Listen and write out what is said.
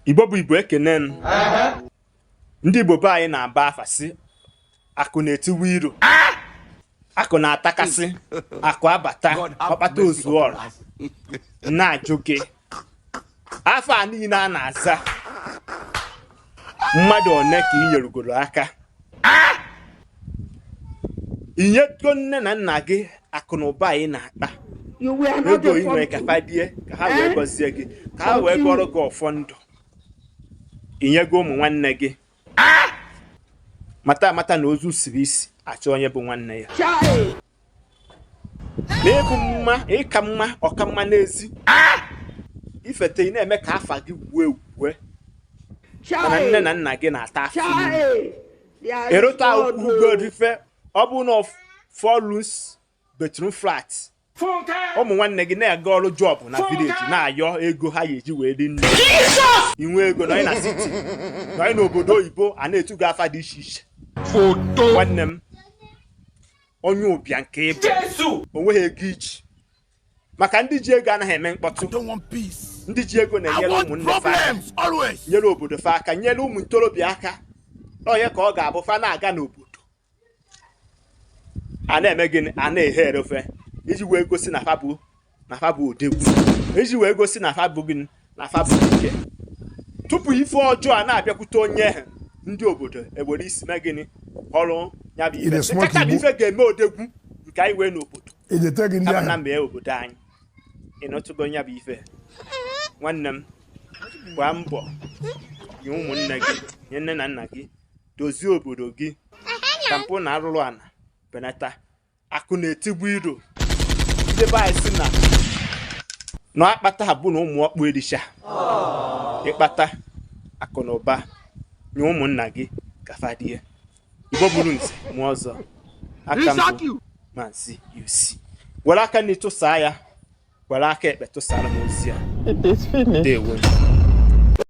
igbo bụ igbo ekene m ndị igbo be anyị na-aba afa sị akụ na-etigbu iro akụ na-atakasị akụ abata ọkpata ozuo ọra na-ajụ gị afa a niile a na-aza mmadụ one ka ị nyerugoro aka i nyego nne na nna gị akụ na ụba a ị na-akpa ego ị nwere ka fa rie ka ha wee eh? gọzie gị ka ha wee gọrọ gị ọfọ ndụ i nyego ụmụ nwanne gị mata amata na ozu siri isi a chọọ onye bụ nwanne ya na ị bụ mma ịka mma ọka mma n'ezi ifete ị na-eme ka afa gị wuo ewuo mana nne na nna gị na-ata afụfụ ị rụtakwagoro fa ọbụna four bedroom flat ụmụ nwanne gị na-aga ọrụ job na village na-ayọ ego ha ga-eji wee rie nni i nwee ego nọ na city nọ n'obodo oyibo a na-etu gị afa dị iche iche nwanne m onye ụbịam ka ị bụ o nweghị ego i ji maka ndị ji ego anaghị eme mkpọtụ ndị ji ego na-enyere ụmụnne fa aka nyere obodo fa aka nyere ụmụ ntorobịa aka onye ka ọ ga-abụ fa na-aga n'obodo a na-eme gịnị a na-ehere ofe iji wee gosi na fa bụ na fa bụ odogwu iji wee gosi na fa bụ gịnị na fa bụ ike tupu ife ọjọọ a na-abịakwute onye ha ndị obodo ewere isi mee gịnị ọrụ ya bụ ife kacha bụ ife ga-eme odogwu nke anyị nwee n'obodo kama na mee obodo anyị ị ghọtago ya bụ ife nwanne m gbaa mbọ nye ụmụnne gị nye nne na nna gị dozie obodo gị ka mpụ na arụrụ ana benata akụ na-etigbu iro ndị be anyị sị na na akpata ha bụ na ụmụ ọkpụ ericha ị kpata akụ na ụba nye ụmụnna gị ka fa rie igbo mụrụ nze mụọ ọzọ aka m bụ maazị uc were aka nni tụsaa ya were aka ekpe tụsara m ozi a